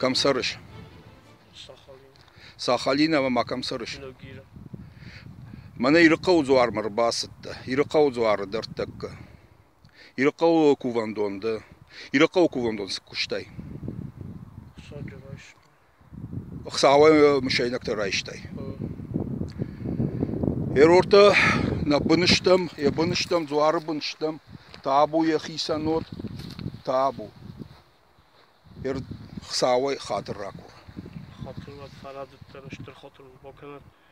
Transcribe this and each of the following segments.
Кӕм цӕрыс? Сахалин ӕмӕ ма кӕм цӕрыс? Мӕнӕ Ирыхъӕуы дзуармӕ ӕрбацыдтӕ. Ирыхъӕуы дзуары дӕрдтӕккӕ. Ирыхъӕуы кувӕндон дӕ. Ирыхъӕуы кувӕндон цы куыстай? Хуцауӕй мысайнӕгтӕ райстай. Ӕрортӕ нӕ бын стӕм, йӕ бын стӕм, дзуары бын стӕм, табу йӕхицӕн уод, табу. Хуцауӕй хатыр ракур. Хатыр уӕд фӕрӕдыддӕр, стыр хатыр бакӕнӕд.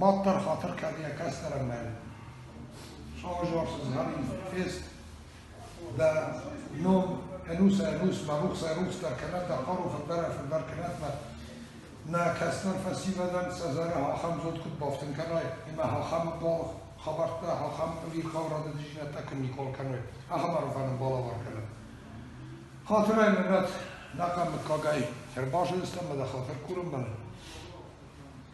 Мад дӕр хатыр кӕдийӕ кӕсдӕрӕмӕй. Саужарсыз гъарин фест, да ном ӕнус ӕнус мӕрухс ӕрухс дӕр кӕнӕд, да хъару фӕддӕр фӕддӕр кӕнӕд, мӕ нӕ кӕснӕн фӕсивӕдӕн сӕ зӕрӕ ахӕм зод куыд бафтын кӕнай, ӕмӕ ахӕм бал хабӕрттӕ, ахӕм ӕвирхъау радодзинӕдтӕ куыд никол кӕной, ахӕм арвӕн балавар кӕнӕд. Хатырӕй мӕнӕт нӕ мыггагӕй фербазыдыстӕм, мӕ хатыр курынмӕ.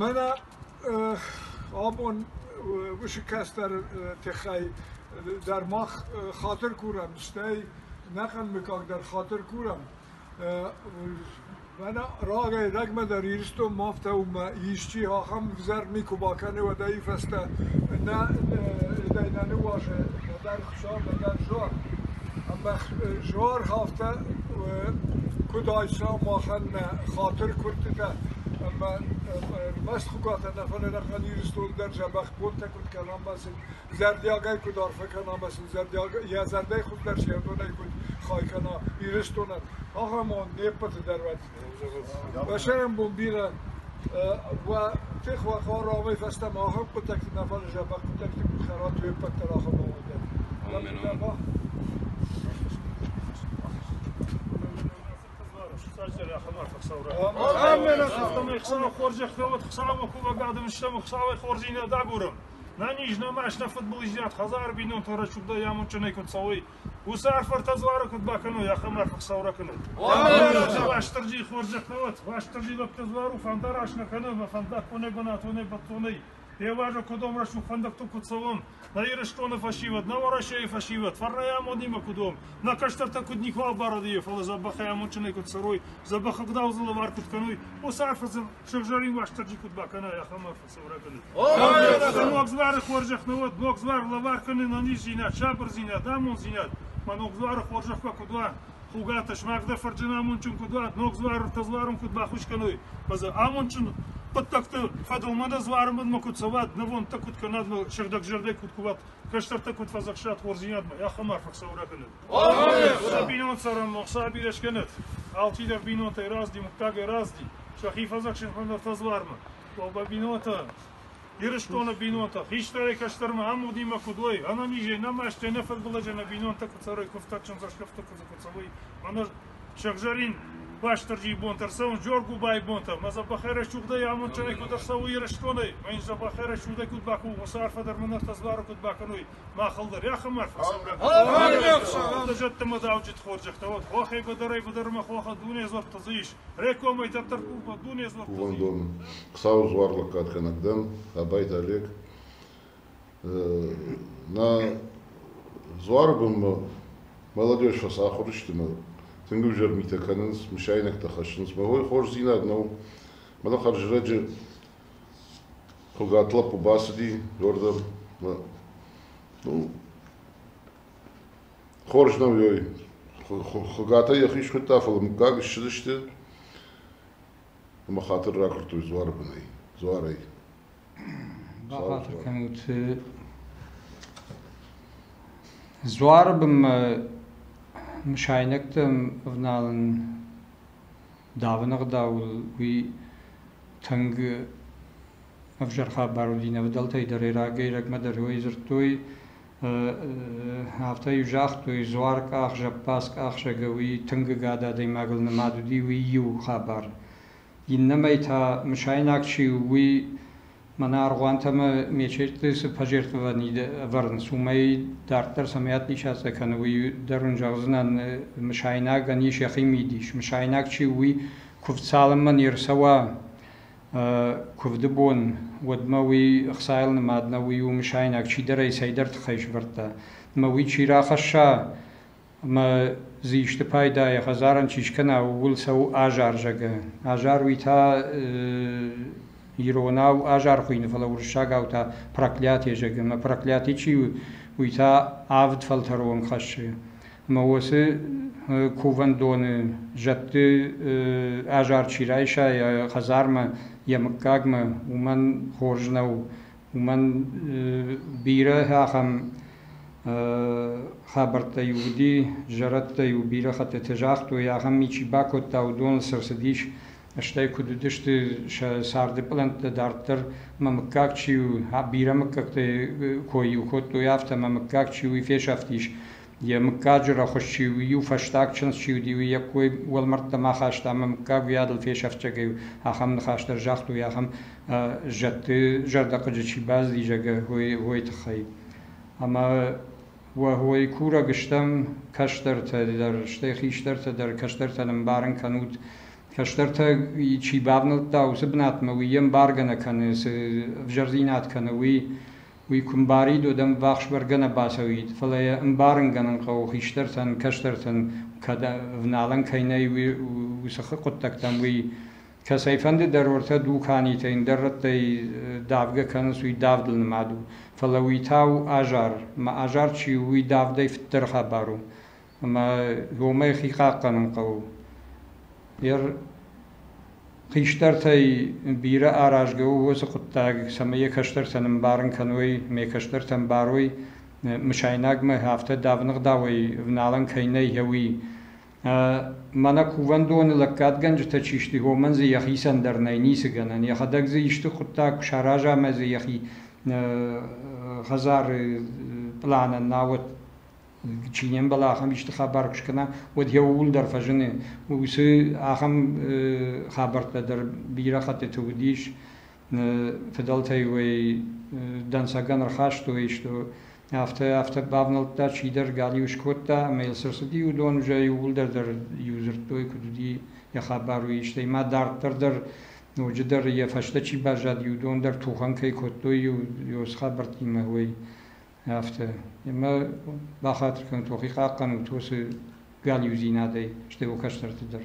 Мӕнӕ абон уыцы кӕстӕры тыххӕй дӕр мах хатыр курӕм, стӕй ӕнӕхъӕн мыггаг дӕр хатыр курӕм. Мӕнӕ рагӕй рӕгмӕ дӕр Ирыстонмӕ афтӕ у ӕмӕ исчи ахӕм ӕвзӕр никуы бакӕны уӕдӕй фӕстӕ. Нӕ, дӕ нӕ ныуазӕ нӕдӕр Ӕмӕ зынаргъӕвтӕ куыд айса махӕн нӕ хатыры куырдтытӕ ӕмӕ ӕрмӕст Хуыгаты Анафаны аргъӕн Ирыстон дӕр дзӕбӕх бонтӕ куыд кӕна ӕмӕ сын зӕрдиагӕй куыд арфӕ кӕна ӕмӕ сын йӕ зӕрдӕй хуыздӕр се рдонӕй куыд хай кӕна Ирыстонӕн, ахӕм уон не ппӕты дӕр уӕд. Басайӕн бон бирӕ уа, техуӕхӕн равӕй фӕстӕмӕ ахӕм хъуыддӕгти нӕ фӕлӕза, бӕрӕг хъуыддӕгти куд хӕрат уе ппӕт дӕр ахӕм равӕй дӕр. Ӕмӕ мин баба? Ӕмӕ хӕстӕмӕ Хуцауы хорзӕх фӕуӕд, Хуцауӕ кувӕг адӕмистӕм, Хуцауӕй хорзи нӕ дагурӕм. Нӕ низ, нӕ маст, нӕ футбол издиад, хӕдзар бийнонтӕ рӕсугъдӕй амондджынӕй куд цӕуй, Уыцы арфӕртӕ дзуары куыд бакӕной, ахӕм арф Хуыцау ракӕнӕд. Уастырджи хорзӕх нӕ уӕд, Уастырджи лӕгтӕ дзуару фӕндараст нӕ кӕны ӕмӕ фӕндаггонӕй бынатонӕй бӕттонӕй. Фӕвӕза кодом рӕсугъд фӕндӕгтыл куыд цӕуӕм, нӕ Ирыстоны фӕсивӕд, нӕ Уӕрӕсейы фӕсивӕд, фӕрнӕй амонимӕ куыд уӕм, нӕ кӕстӕртӕ куыд никуал барадийӕ, фӕлӕ дзӕбӕхӕй амондджынӕй куыд цӕрой, дзӕбӕх ӕгъдау дзы лӕвар куыд кӕной, уыцы арф сыгъзӕрин Уастырджи куыд бакӕнай, ахӕм арф. Ногдзуары хорзӕх нӕ уӕд, ногдзуар лӕвар кӕнын ӕниздзинад, сабырдзинад, амонддзинад, ма ногдзуары хорзӕхмӕ куыд уа, Хуыгаты смаг дӕ фырджын амондджын куыд уа, ногдзуар тӕдзуарым куыд бахус кӕной, фӕлӕ амондджын хъуыддӕгты фӕдыл ма дӕ дзуары мадмӕ куыд цӕуат, нывондтӕ куыд кӕнат, сыгъдӕг зӕрдӕ куыд куват, кӕстӕртӕ куыд фӕдзӕхсат хорздзинадмӕ, ахӕм арф ӕхсӕвӕр акӕнӕд. Уӕдӕ бинонты цӕрӕн ном сӕ бирӕ скӕнӕд, алчидӕр бинонтӕй разди, мыггагӕй разди, сӕхи фӕдзӕхсын фӕндӕр тӕдзуармӕ, Тобӕ бинонтӕ, Ирыстоны бинонтӕ, хистӕрӕй кӕстӕрмӕ ӕмудимӕ куыд уой, ӕнӕнизӕй нӕ масте, нӕ фыдбылызӕй нӕ бинонтӕ куы цӕрой, куы фтӕгджын цӕсгӕртты куыдзы куы цӕуой, ӕмӕ сӕгъзӕрин Бастырджийы бонтӕ рцӕуын Джоргубайы бонтӕ, мӕ дзӕбӕхӕрӕст угъдӕй амондджынӕй куыд ӕрцӕуы Ирыстонӕй, мӕ дзӕбӕхӕрӕст удӕй куыд бахуы, уыцы арфӕ дӕр мын ӕртӕдзуары куыд бакӕной, мах ӕлдарӕх ӕмӕ арфӕ сӕврӕм. Ӕлдар зӕдты мадауджыт хорзӕхтӕ уӕд, хохӕй быдырӕй-быдырмӕ хохы дуне дзырдты дзы ис, Кувӕндон Хуцауи дзуар лӕггадгӕнӕг дӕн, Абайти Олег. Нӕ дзуары бонмӕ молодежь фӕцахуыр сты мӕ тынг ӕвзӕр митӕ кӕнынц, мысайнӕгтӕ хӕссынц. Мӕ уой хорздзинад нӕу. Мӕнӕ хӕрзрӕджы хуыгат лӕппу бацыди, уӕрдӕм. Мӕ, ну, Хорз нӕу, ой. Хуыгатӕй йӕхи схуыдта, фӕлӕ мыггаг ссыдысты ӕмӕ хатыр ракуырдтой дзуары бынӕй, дзуарӕй. Бахатыр кӕнут. Дзуары бынмӕ мысайнӕгтӕм ӕвналын давыны ӕгъдауыл уый тынг ӕвзӕр хабар уыди. Нӕ фыдӕлтӕй дӕр ӕрӕгӕй-ӕрӕгмӕ дӕр уый дзырдтой, Афтӕ-иу загътой, дзуаркъах, зӕппадзкъахсӕг уый тынг ӕгад адӕймагыл нымад уыди, уый иу хабар. Иннӕмӕй та мысайнаг чи у, уый мӕнӕ аргъуанты ӕмӕ мечеты цы пожертвований ӕвӕрынц, уымӕй дарддӕр цӕмӕйад ничӕцӕ кӕны, уый дӕр уын зӕгъдзынӕн, мысайнагӕн ис йӕхи мидис. Мысайнаг чи у, уый куыв цалынмӕ не рцӕуа Куывды бон, уӕдмӕ уый ӕхцайыл нымад нӕу, уый у мысайнаг, чидӕрӕй цӕйдӕр тыххӕй сӕвӕрдта. Ӕмӕ уый чи рахӕсса ӕмӕ дзы исты пайда йӕ хӕдзарӕн чи скӕна, ууыл цӕуы азар, зӕгъы. Азар уый та иронау азар хуыйны, фӕлӕ уырыссагау та проклятие зӕгъы. Ӕмӕ проклятий чи у, уый та авд фӕлтӕры онг хӕссы. ӕма уоси кувӕндони зӕдти азар чи райса йӕ хӕдзармӕ, йӕ мыггагмӕ, уымӕн хорз нӕу. Уымӕн бирӕ ахӕм хабӕрттӕ-иу уыди, зӕрӕдтӕ-иу бирӕ хӕттыты загътой, ахӕм ми чи бакодта, уыдон сӕ цыдис, стӕй куыд уыдысты сӕ царды пълӕнттӕ дарддӕр, ӕмӕ мыггаг чи у, бирӕ мыггӕгтӕ кой-иу кодтой, афтӕ ӕмӕ мыггаг чи у, фесӕфтис. Йӕ мыггаджы рӕхуыс чи у, иу фӕстаг чындз чи уыди, уый йӕ кой уӕлмӕрдтӕм ахаста ӕмӕ мыггаг уыйадыл фесӕфцӕгӕй у, ахӕм ныхас дӕр загътой, ахӕм зӕдты зӕрдӕхъыджы чи базыди, зӕгъгӕ, уой, уой тыххӕй. Ӕмӕ уой курӕг стӕм кӕстӕртӕ дӕр, стӕй хистӕртӕ дӕр, кӕстӕртӕн ӕмбарын кӕнут, кӕстӕртӕ чи бавнӕлдта уыцы бынатмӕ, уый ӕмбаргӕ нӕ кӕны, цы ӕвзӕрдзинад кӕны, уый Уый куы мбарид, уӕд ӕмввахс бӕргӕ нӕ бацӕуид, фӕлӕ йӕ ӕмбарынгӕнӕн хъӕуы хистӕртӕн, кӕстӕртӕн кӕд ӕвналӕн кӕй нӕй уыцы хъуыддӕгтӕм, уый. Кӕцӕйфӕнды дӕр ортӕ дуканитӕ ӕндӕр рӕттӕй давгӕ кӕнынц, уый давдыл нымад у. Фӕлӕ уый та у азар. Мӕ азар чи у, уый давдӕй фыддӕр хабар у. ӕма уомӕй хи хъахъхъӕнун хъӕуы. Е хистӕртӕй бирӕ аразгӕ у уоцы хъуыддаг, цӕмӕй йӕ кӕстӕртӕн ӕмбарын кӕной, ме кӕстӕртӕн барой, мысайнагмӕ афтӕ давын ӕгъдауӕй ӕвналӕн кӕй нӕй, уый. Мӕнӕ кувӕндоны лӕггадгӕнджытӕ чи сты, уомӕн дзы йӕхицӕн дӕр нӕй ницы гӕнӕн. Йӕхӕдӕг дзы исты хъуыддаг куы сараза ӕмӕ дзы йӕхи хӕдзары пъланӕн науӕд чи не мбӕлы ахӕм исты хабар куы скӕна, уӕд йӕ ууыл дӕр фӕзыны. Уыцы ахӕм хабӕрттӕ дӕр бирӕ хӕттыты уыдис. Фыдӕлтӕй уӕй дӕнцӕгӕн ӕрхастой, что афтӕ афтӕ бавнӕлдта, чидӕр галиу скодта, ӕмӕ йыл цы рцыди, уыдон уже иууылдӕр дӕр иу дзырдтой, куыд уыди йӕ хабар, уый. Стӕй ма дарддӕр дӕр ноджыдӕр йӕ фӕстӕ чи баззад, уыдон дӕр тухӕн кӕй кодтой иу хабӕрттимӕ, уый. Афтӕ. Ӕмӕ бахатыр кӕнут уӕхи хъахъхъӕнут уыцы галиудзинадӕй, стӕй уӕ кӕстӕрты дӕр.